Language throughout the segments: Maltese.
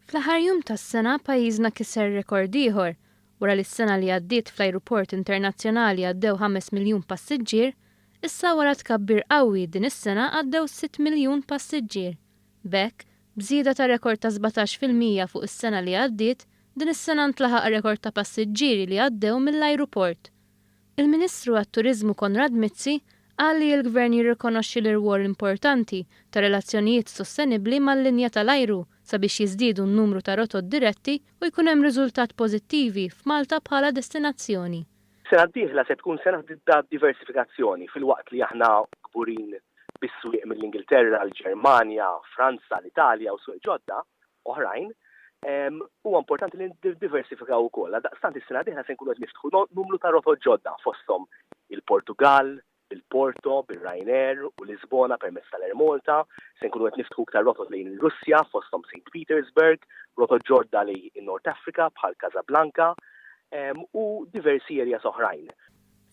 Fl-aħħar jum tas-sena pajjiżna kiser rekord ieħor wara li s-sena li għaddiet fl-ajruport internazzjonali għaddew 5 miljun passiġġier, issa wara tkabbir qawwi din is-sena għaddew 6 miljun passiġġier. B'hekk, b'żieda ta' rekord ta' 17 fil-mija fuq is-sena li għaddiet, din is-sena ntlaħaq rekord ta' passiġġieri li għaddew mill-ajruport. Il-Ministru għat-Turiżmu Konrad Mizzi qal li l-Gvern jirrikonoxxi l-irwol importanti ta' relazzjonijiet sostenibbli mal-linja tal-ajru sabiex jiżdiedu n-numru ta' rotot diretti u jkun hemm riżultat pożittivi f'Malta bħala destinazzjoni. Is-sena d-dieħla se tkun sena ta' diversifikazzjoni filwaqt li aħna kburin bis-swieq mill-Ingilterra, l-Ġermanja, Franza, l-Italja u swieq ġodda, oħrajn, huwa importanti li niddiversifikaw ukoll. Għaldaqstant is-sena d-dieħla se nkunu qed niftħu numru ta' rotot ġodda fosthom il-Portugall, bil-Porto, bir-Ryanair u Lisbona permezz tal-Air Malta, se nkunu qed niftħu iktar rotot lejn ir-Russja fosthom Saint Petersburg, rotot ġodda lejn in-North Africa bħal Casablanca u diversi areas oħrajn.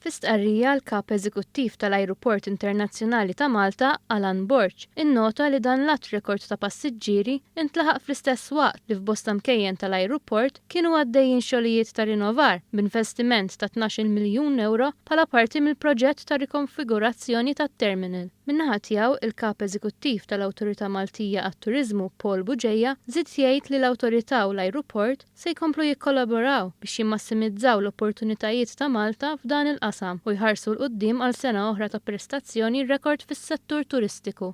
Fi stqarrija, l-Kap Eżekuttiv tal-Ajruport Internazzjonali ta' Malta, Alan Borg, innota li dan l-għadd rekord ta' passiġġieri ntlaħaq fl-istess waqt li f'bosta mkejjen tal-ajruport kienu għaddejjin xogħlijiet ta' rinovar b'investiment ta' tnax-il miljun ewro bħala parti mill-proġett ta' rikonfigurazzjoni tat-terminal. Min-naħa tiegħu, il-Kap Eżekuttiv tal-Awtorità Maltija għat-Turiżmu, Paul Bugeja, żied jgħid li l-Awtorità u l-ajruport, se jkomplu jikkollaboraw biex jimmassimizzaw l-opportunitajiet ta' Malta f'dan il-qasam u jħarsu 'l quddiem għal sena oħra ta' prestazzjoni rekord fis-settur turistiku.